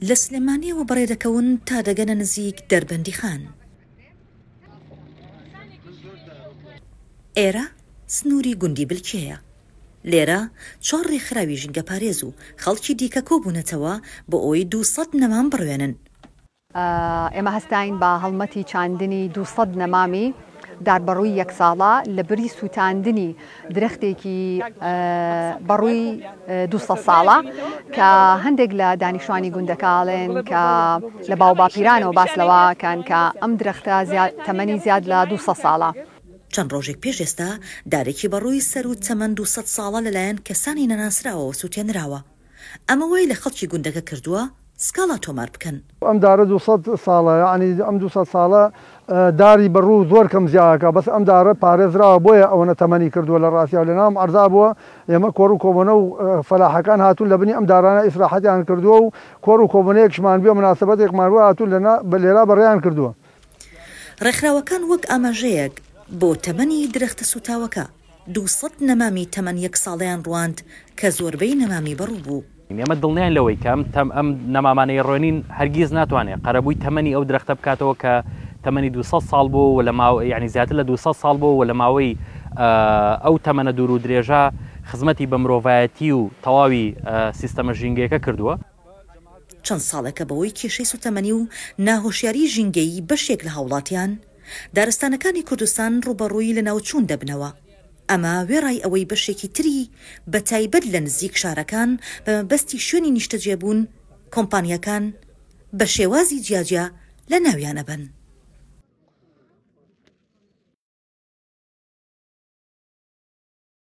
لە سلێمانیەوە بەڕێ دەکەون تا دەگەنە نزیک دەربەندیخان. ئێرە سنووری گوندی بلکێیە. لێرە چوار ڕێکخراوی ژینگەپارێز و خەڵکی دیکە کۆبوونەتەوە بۆ ئەوەی دوو سەد نەمام بڕوێنن. ئێمە هەستاین بە هەڵمەتی چاندنی دوو سەد نەمامی داربەڕووی یەک ساڵە لە بری سووتاندنی درەختێکی بەڕووی دوو سەد ساڵە کە هەندێک لە دانیشتوانی گوندەکە ئەڵێن کە لە باوباپیرانەوە باس لەوەکەن کە ئەم درەختە تەمەنی زیاد لە دوو سەد ساڵە. چەند ڕۆژێک پێش ئێستا دارێکی بەڕووی سەروو تەمەن دوو سەد ساڵە لەلایەن کەسانی نەناسراوەوە سووتێنراوە. ئەمە وای لە خەڵکی گوندەکە کردووە سکاڵا تۆمار بکەن. ئەم دارە دوو سەد ساڵە یەعنی ئەم دوو سەد ساڵە داری بە ڕوو زۆر کەم زیاکە بەس ئەم دارە پارێزراوە بۆیە ئەوەنە تەمەنی کردووە لە ڕاستیاو لە ناوم عەرزا بووە ئێمە کۆڕ و کۆبۆنە و فەلاحەکان هاتوون لە بنی ئەم دارانە ئیسراحەتیان کردووە و کۆڕ و کۆبۆنەیەکشمان بێ و مناسەبەتێکمان بووە هاتوون لە نا لێرا بەڕێیان کردووە. ڕێکخراوەکان وەک ئاماژەیەک بۆ تەمەنی درەختە سووتاوەکە. دوو سەد نەمامی تەمەن یەک ساڵەیان ڕواند کە زۆربەی نەمامی بەڕوو بوو. ئێمە دڵنیاین لەوەی کە ئەم نەمامانەی ڕوێنین هەرگیز ناتوانێت قەرەبووی تەمەنی ئەو درەختە بکاتەوە کە تەمەنی دوو سەد ساڵ بووە و لە ماوەی یەعنی زیاتر لە دوو سەد ساڵ بووە و لە ماوەی ئەو تەمەنە دوور و درێژە خزمەتی بە مرۆڤایەتی و تەواوی سیستەمە ژینگەیەکە کردووە. چەند ساڵێکە بەهۆی کێشەی سووتەمەنی و ناهۆشیاریی ژینگەیی بەشێک لە هاوڵاتیان، دارستانەکانی کوردستان ڕووبەڕووی لەناوچوون دەبنەوە، ئەمە وێڕای ئەوەی بەشێکی تری بە تایبەت لە نزیک شارەکان بە مەبەستی شوێنی نیشتەجێبوون کۆمپانیاکان بە شێوازی جیاجیا لە ناویان ئەبەن.